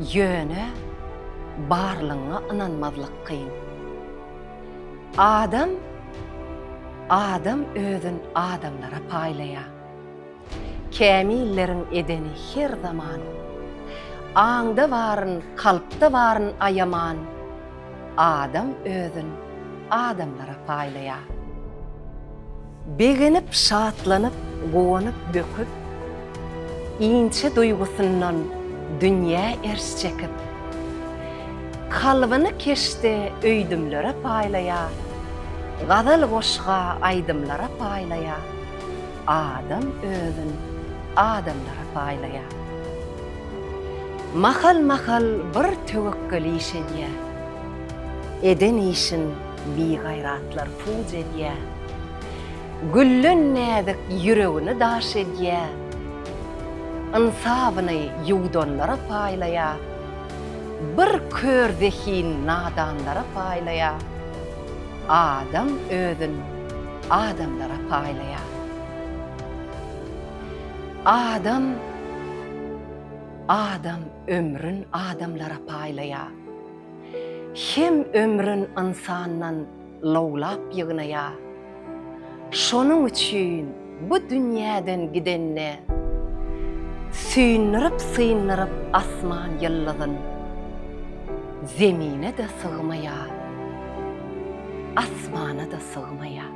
Ýöne barlygyňa ynanmazlyk kyn. Adam adam özün adamlara paýlaýar. Kämilleriň edeni her zaman. Aňda baryn, kalpda baryn aýaman, adam özün adamlara paýlaýar. Begenip, şatlanyp, guwanyp, böküp, inçe duýgusyndan dünýä erş çekip, kalbyny keşde öýdümlere paýlaýar, gazal-goşga, aýdymlara paýlaýar, adam özün adamlara paýlaýar. Mahal-mahal bir töwekgel iş edýär, eden işin Bigaýratlar puj edýär. Güllen näzik ýüregini daş edýär. Ynsabyny ýuwdanlara paýlaýar. Bir kör zehin nadanlara paýlaýar. Adam özün adamlara paýlaýar. Adam, adam ömrün adamlara paýlaýar. Hem ömrün ynsandan lowlap ýygnaýar. Şonuň üçin bu dünýäden gidende, Süýndirip-syndyryp asman ýyldyzyn, Zemine-de sygmaýar, asmana-da sygmaýar.